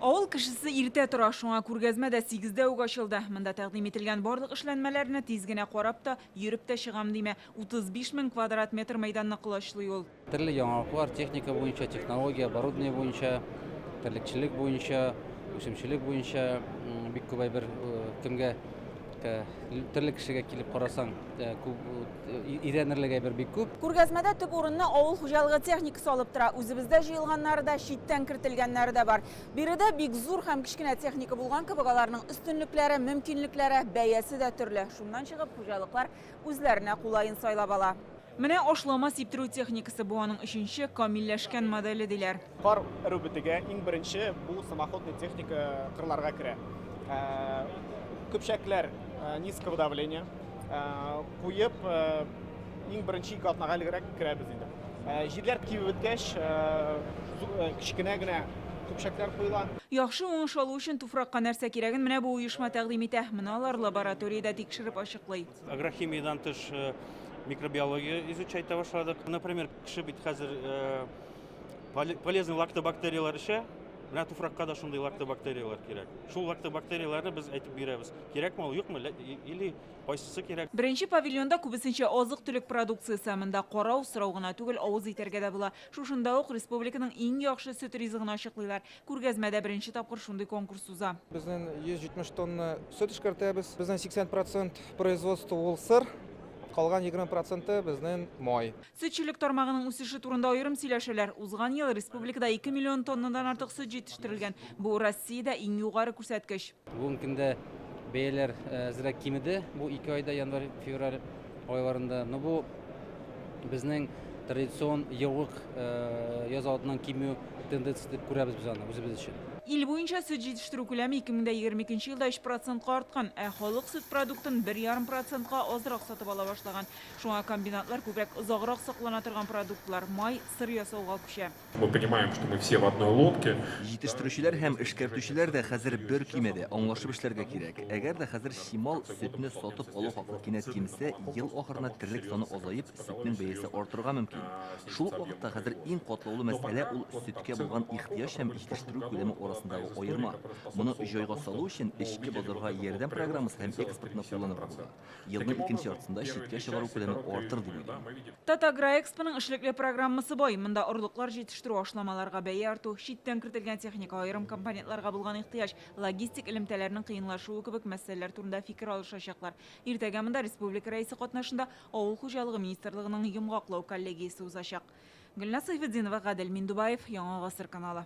Авыл кешесе иртә тора, шуңа күргәзмә дә сигездә үк ачылды. Монда тәкъдим ителгән барлык эшләнмәләрне тиз генә карап та, йөреп тә чыгам димә. 35 мең квадрат метр мәйданны колачлый ул. Төрле яңалыклар техника буенча, технология, оборудование буенча, терлекчелек буенча, үсемчелек буенча бик күп әйбер кемгә төрле кешегә килеп карасаң, өйрәнерлек әйбер бик күп. Күргәзмәдә төп урынны авыл хуҗалыгы техникасы алып тора. Үзебездә җыелганнары да, читтән кертелгәннәре дә бар. Биредә бик зур һәм кечкенә техника булган кебек, аларның өстенлекләре, мөмкинлекләре, бәясе дә төрле. Шуннан чыгып, хуҗалыклар үзләренә кулаен сайлап ала. Менә ашлама сиптерү техникасы, бу аның өченче камилләшкән моделе, диләр. Кар эрү бетүгә, иң беренче бу самоходный техника кырларга керә. Көпчәкләр низкого давления куеп, иң беренче ике атнага элегрәк керәбез инде. Җирләр кибеп беткәч, кечкенә генә көпчәкләр куела. Яхшы уңыш алу өчен туфракка нәрсә кирәген менә бу оешма тәкъдим итә. Моны алар лабораториядә тикшереп ачыклый. Агрохимиядән тыш микробиология изучать итә башладык. Например, кеше бит хәзер полезный лактобактерияләр эчә, менә туфракка да шундый лактобактерияләр кирәк. Шул лактобактерияләрне без әйтеп бирәбез, кирәкме ул, юкмы, или кайсысы кирәк. Беренче павильонда күбесенчә азык-төлек продукциясе. Монда карау, сорау гына түгел, авыз итәргә дә була. Шушында ук республиканың иң яхшы сөт ризыгын ачыклыйлар. Күргәзмәдә беренче тапкыр шундый конкурс уза. Безнең 170 тонна сөт эшкәртәбез. Безнең 80 процент производство ул сыр, калган 20 проценты безнең май. Сөтчелек тармагының үсеше турында аерым сөйләшәләр. Узган ел республикада 2 миллион тоннадан артык сөт җитештерелгән. Бу Россиядә иң югары күрсәткеч. Бүгенге көндә бәяләр әзрәк кимеде. Бу ике айда январь-февраль айларында. Но бу безнең традицион егылык яз алдыннан кимү тенденциясе дип күрәбез без аны үзебез өчен. Ил буенча сөт җитештерү күләме 2022 елда 3 процентка арткан, ә халык сөт продуктын бер ярым процентка азрак сатып ала башлаган. Шуңа комбинатлар күбрәк озаграк саклана торган продуктлар, май, сыр ясауга күчә. Мы понимаем, что мы все в одной лодке. Җитештерүчеләр һәм эшкәртүчеләр дә хәзер бер көймәдә, аңлашып эшләргә кирәк. Әгәр дә хәзер чимал сөтне сатып алу хакы кинәт кимсә, ел ахырына терлек саны азаеп, сөтнең бәясе артырга мөмкин. Шул ук вакытта хәзер иң катлаулы мәсьәлә ул сөткә булган ихтыяҗ һәм җитештерү күләме арасындагы аерма. Моны җайга салу өчен эчке базарга ярдәм программасы һәм экспортны кулланырга була. Елның икенче яртысында читкә чыгару күләме артыр, дип уйлыйм. Татагроэкспоның эшлекле программасы бай. Монда орлыклар җитештерү, ашламаларга бәя арту, читтән кертелгән техника, аерым компонентларга булган ихтыяҗ, логистик элемтәләрнең кыенлашуы кебек мәсьәләләр турында фикер алышачаклар. Иртәгә монда республика Рәисе катнашында Авыл хуҗалыгы министрлыгының йомгаклау коллегиясе узачак. Гөлназ Сайфетдинова, Гадел Миндубаев, Яңа гасыр каналы.